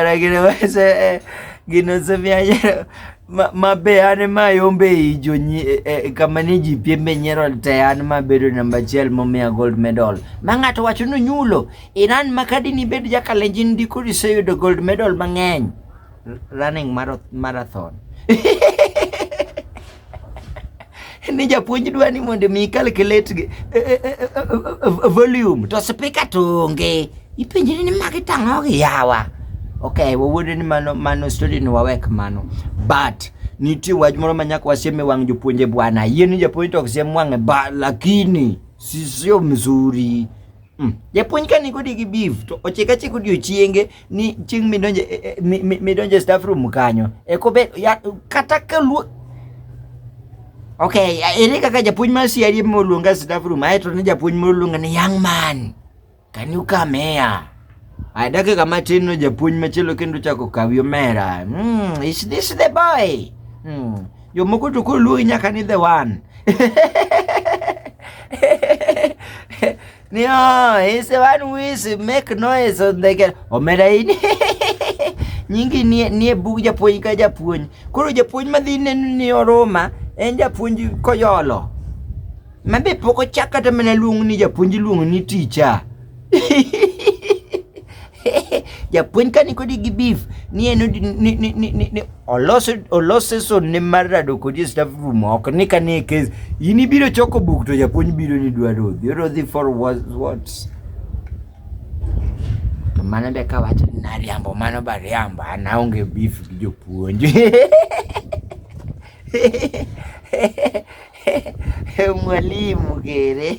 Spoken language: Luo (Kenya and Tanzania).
Ragirewaise gino semianyero mabe an ma yombe i jo e, e, kama ni ji piembe nyiero te an ma bedo namba achiel momiya gold medal ma ng'ato wacho ni nyulo iran ma kadi ni bed jakalenjin ndiko iseyudo gold medal mang'eny running marathon ni japuonj dwa ni mondo mi calculate eh, eh, eh, volume to speaker to onge ipenjri ni magi tang'o gi yawa okay wawuodo ni mano mano story ni wawek mano but nitie wach moro ma nyaka wasiem e wang' jopuonje bwana yie ni japuonj to ok siem wang'e ba lakini sisio mzuri mm. japuonj ka nikodi gi beef to ochika chik odiochienge ni chieng' midonje e, e, midonje e staff room kanyo e kobet kata ka luo ok ere kaka japuonj mar CRE moluonga staff room ae to ne japuonj moluonga ni young man can you come here a dakika matin no japuonj machielo kendo chako kawi omera mm, is this the boy mm. jomoko to koro luongi nyaka ni the one Ni oh, is the one who is make noise on the girl. Omera in. Nyingi nie nie bug japuonj ka japuonj. Koro japuonj madhi neno ni oroma en japuonj koyolo. Mabe pok ochak kata mana luong ni japuonj luong ni ticha. japuonj ka nikodi gi beef ni en ni olose olose sonne mar rado kodi e staff room ok ni ka nie case in ibiro choko buk to japuonj biro ni dwa rodhi rodhi for what what's to mano be ka wacho ni nariambo mano ba riambo an aonge beef gi jopuonj mwalimu kere